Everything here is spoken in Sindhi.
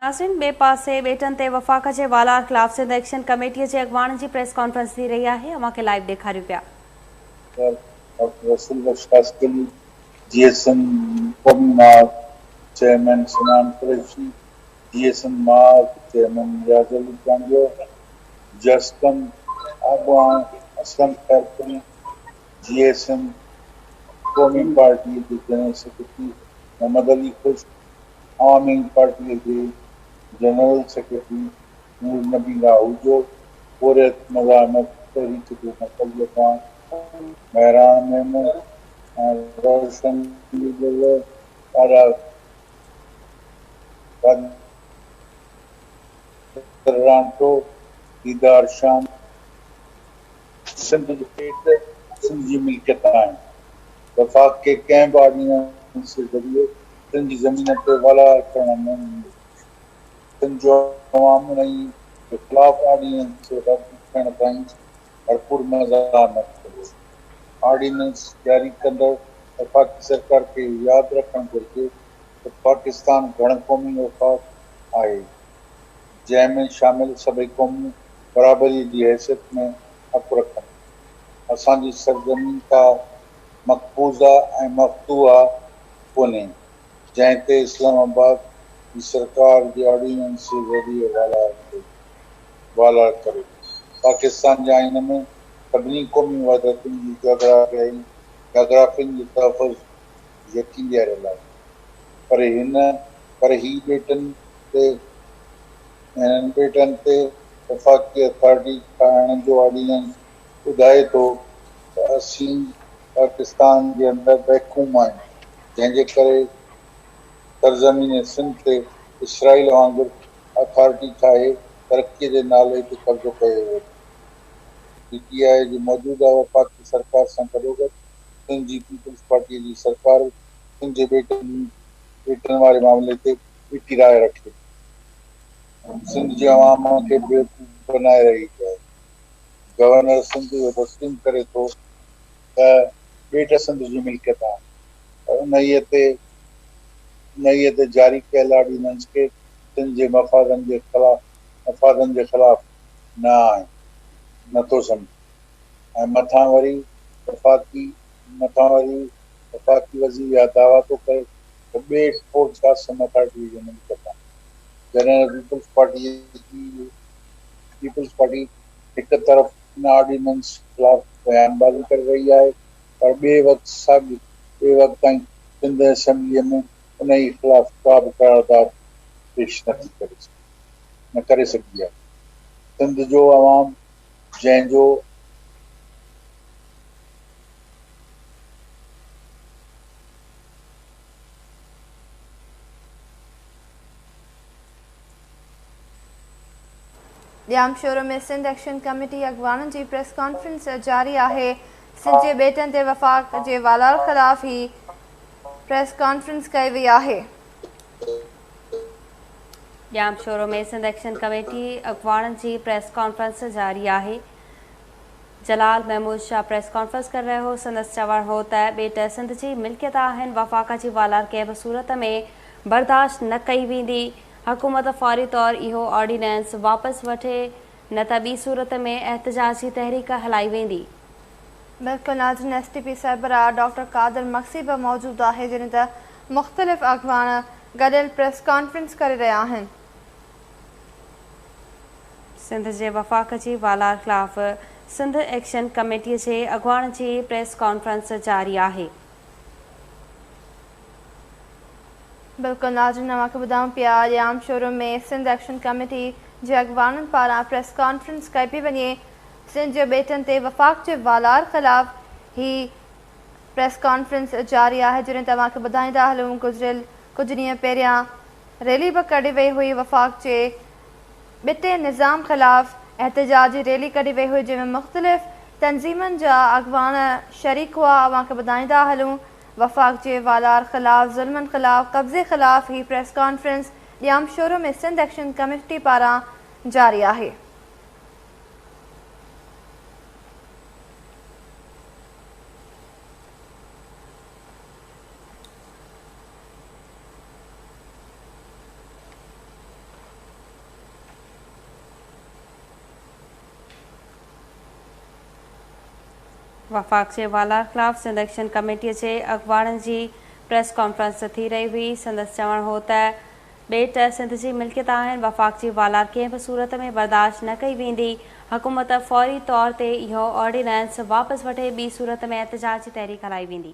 ناظرين ٻئي پاسي ٻيٽن تي وفاق جي والار خلاف سنڌ ايڪشن ڪميٽي جي اڳواڻن جي پريس ڪانفرنس ٿي رهي آهي اوهان کي لائيو ڏيکاريون پيا. Doctor Rasool Bakhsh Khaskheli, J S M قومي ماڳ، چيئرمين سمعان قريشي، جي ايس ايم ماڳ، چيئرمين نياز علي چانڊيو، جسقم آبان، Aslam Khairpuri, J S M قومي پارٽي جي جنرل سيڪريٽري محمد علي خشڪ، عوام ليگ پارٽيء جي جنرل سيڪريٽري نور نبي لاهوجو پورهيت مزاحمت تحريڪ جي مقبول اڳواڻ مهراڻ ميمڻ ۽ روشن ڏيڏر ڏاڍا قادر رانٽو، ديدار شام، سنڌ جي پيٽ سنڌ جي ملڪيت آهن وفاق کي ڪنهن به آرڊيننس جي ذريعي تن جي زمين تي والار ڪرڻ ۾ تن جو عوام انهي جي خلاف آرڊيننس کي رد ٿيڻ تائين ڀرپور مزار نه ڇڏيو. آرڊيننس جاري ڪندڙ وفاقي سرڪار کي اهو ياد رکڻ گهرجي ته پاڪستان گهڻ قومي وفاق آهي، جنهن ۾ شامل سڀئي قومون برابريء جي حيثيت ۾ حق رکن ٿيون. اسان جي سرزمين ڪا مقبوضه ۽ مفتوحه ڪونهي، جنهن تي اسلام آباد جي سرڪار جي آرڊيننس جي ذريعي والار ڪري پاڪستان جي آئين ۾ سڀني قومي وحدتن جي جاگرافيائي جاگرافين جو تحفظ يقين ڏياريل آهي پر هن پر هي ٻيٽن تي هنن ٻيٽن تي وفاقي اٿارٽي ٺاهڻ جو آرڊيننس ٻڌائي ٿو ته اسين پاڪستان جي اندر محڪوم آهيون، جنهن جي ڪري سرزمين سنڌ تي اسرائيل وانگر اٿارٽي ٺاهي ترقي جي نالي تي قبضو ڪيو ويو ٿو. پي ٽي آء جي موجوده وفاقي سرڪار سان گڏوگڏ سنڌ جي پيپلز پارٽيء جي سرڪار به سنڌ جي ٻيٽن واري معاملي تي ٻيٽي راء رکي ٿي ۽ سنڌ جي عوام کي بيوقوف بنائي رهي آهي. گورنر سنڌ اهو تسليم ڪري ٿو ته ٻيٽ سنڌ جي ملڪيت آهي ۽ انهيء تي انهيء تي جاري ڪيل آرڊيننس ڪي سنڌ جي مفادن جي خلاف مفادن جي خلاف نه آهن نه ٿو سمجهي ۽ مٿان وري وفاقي مٿان وري وفاقي وزير اها دعويٰ ٿو ڪري ته ٻيٽ پورٽ شاستم اٿارٽيء جي ملڪيت آهي جڏهن ته پيپلز پارٽيء جي پيپلز پارٽي هڪ طرف ان آرڊيننس خلاف بيان بازي ڪري رهي آهي پر ٻئي وقت ساڳي ٻئي وقت تائين سنڌ اسيمبليء ۾ انهي خلاف ڪا به قرارداد پيش نه ٿي ڪري سگهي نه ڪري سگهي آهي سنڌ جو عوام جنهن جو ڄامشورو ۾ سنڌ ايڪشن ڪميٽي اڳواڻن جي پريس ڪانفرنس جاري آهي، سنڌ جي ٻيٽن تي وفاق جي والار خلاف هي پريس ڪانفرنس ڪئي وئي آهي. ڄامشورو ۾ سنڌ ايڪشن ڪميٽي اڳواڻن جي پريس ڪانفرنس جاري آهي، جلال محمود شاهه پريس ڪانفرنس ڪري رهيو هو، سندس چوڻ هو ته ٻيٽ سنڌ جي ملڪيت آهن، وفاق جي والار ڪنهن به صورت ۾ برداشت نه ڪئي ويندي. حڪومت فوري طور اهو آرڊيننس واپس وٺي نه ته ٻي صورت ۾ احتجاجي تحريڪ هلائي ويندي. ميڊيڪل ناظرين ايس ٽي پي سربراهه ڊاڪٽر قادر مگسي به موجود آهي جڏهن ته مختلف اڳواڻ گڏيل پريس ڪانفرنس ڪري رهيا آهن. سنڌ جي وفاق جي والار خلاف سنڌ ايڪشن ڪميٽي جي اڳواڻ جي پريس ڪانفرنس جاري آهي. بلڪل ناظرين اوهان کي ٻڌائون پيا اڄ عام شورو ۾ سنڌ ايڪشن ڪميٽي جي اڳواڻن پاران پريس ڪانفرنس ڪئي پئي وڃي سنڌ جي ٻيٽن تي وفاق جي والار خلاف هي پريس ڪانفرنس جاري آهي جڏهن ته اوهان کي ٻڌائيندا هلون گذريل ڪجهه ڏينهن پهريان ريلي به ڪڍي وئي هئي وفاق جي ٻتي نظام خلاف احتجاجي ريلي ڪڍي وئي هئي جنهن ۾ مختلف تنظيمن جا اڳواڻ شريڪ هئا اوهان کي ٻڌائيندا هلون وفاق جي والار خلاف ظلمن خلاف قبضي خلاف هي press conference Jamshoro ۾ Sindh action committee پاران جاري آهي. وفاق جي والار خلاف سنڌ ايڪشن ڪميٽي جي اڳواڻن جي پريس ڪانفرنس ٿي رهي هئي، سندس چوڻ هو ته ٻيٽ سنڌ جي ملڪيت آهن، وفاق جي والار ڪنهن به صورت ۾ برداشت نه ڪئي ويندي، حڪومت فوري طور تي اهو آرڊيننس واپس وٺي ٻي صورت ۾ احتجاج جي تحريڪ هلائي ويندي.